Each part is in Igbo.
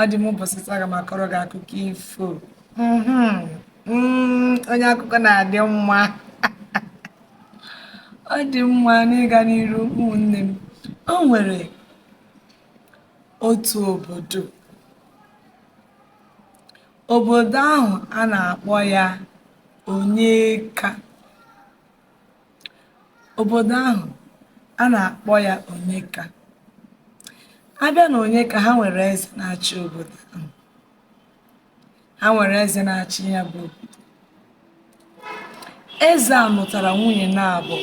ọ dị mma ụbọsị taa aga m akọrọ gị akụkọ ifo mm-hmm. mm, onye akụkọ na-adị mma ọ dị mma n'ịga n'iru ụmụnne m o nwere otu obodo obodo ahụ a na-akpọ ya Onyeka Obodo ahụ, a nà-àkpọ ya Ònyeka. A bịa nà Ònyeka, ha nwèrè ezè na-achị obodo ahụ. Ha nwèrè ezè na-achị ya bụ obodo. Eze a nụtara nwunye naabọ,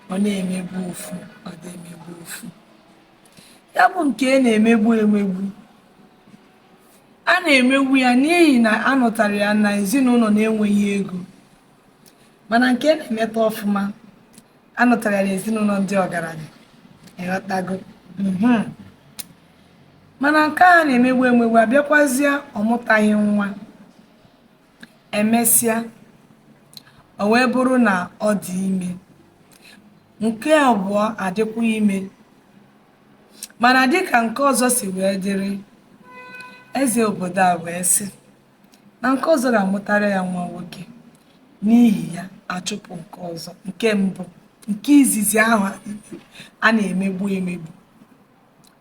ọ na-emegbu ofu, ọ na-emegbu ofu. Ya bụ nke a na-emegbu emegbu, a na-emegbu ya n'ihi na a nụtara ya na ezinụlọ na-enweghị ego. mana nke a na-emeta ọfụma a nụtara ya n'ezinụlọ ndị ọgaranya ị ghọtago mhm. mana nke a na-emegbu emegbu abịakwazie ọ mụtaghị nwa e mesịa o wee bụrụ na ọ dị ime nke abụọ adịkwa ime mana dịka nke ọzọ si wee dịrị eze obodo a wee sị na nke ọzọ ga-amụtara ya nwa nwoke n'ihi ya a chụpụ nke ọzọ nke mbụ nke izizi ahụ a na-emegbu emegbu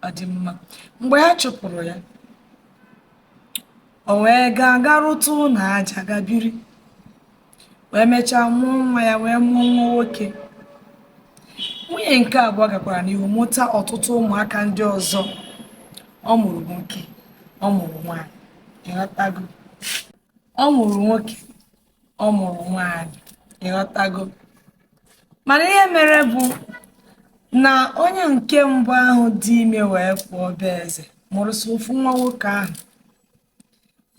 ọ dị mma mgbe a chụpụrụ ya o wee gaa ga rụta ụlọ aja ga biri wee mechaa mụọ nwa ya wee mụọ nwa nwoke nwunye nke abụọ gakwara n'ihu mụta ọtụtụ ụmụaka ndị ọzọ ọ mụrụ nwoke ọ mụrụ nwaanyị ị ghọtago ọ mụrụ nwoke ọ mụrụ nwaanyị ị ghọtago mana ihe mere bụ na onye nke mbụ ahụ dị ime wee pụọ be eze mụrụ sọ ofu nwa nwoke ahụ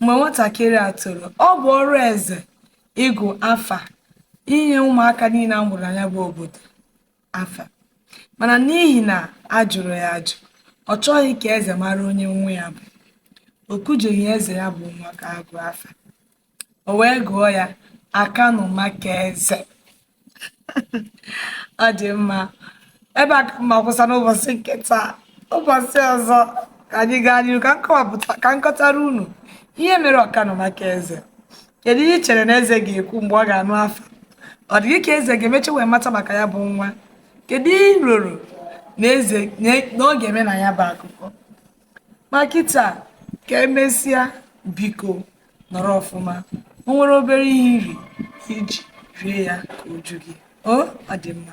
mgbe nwatakịrị a toro ọ bụ ọrụ eze ịgụ afa inye ụmụaka niile a mụrụ na ya bụ obodo afa mana n'ihi na a jụrụ ya ajụ ọ chọghị ka eze mara onye nwa ya bụ o kujeghị eze ya bụ nwa ka a gụọ afa o wee gụọ ya akanụ maka eze ọ dị mma ebe a ka m ga-akwụsa n'ụbọsị nke taa ụbọsị ọzọ ka anyị gaa n'ihu ka m kọwapụta ka m kọtara unu ihe mere akanụ maka eze kedu ihe i chere na eze ga-ekwu mgbe ọ ga-anụ afa ọ dị gị ka eze ga-emecha wee mata maka ya bụ nwa kedu ihe i roro na eze na ọ ga-eme na ya bụ akụkọ ma kịta ka emesịa biko nọrọ ọfụma o nwere obere ihe iri iji rie ya ka o ju gị o ọ dị mma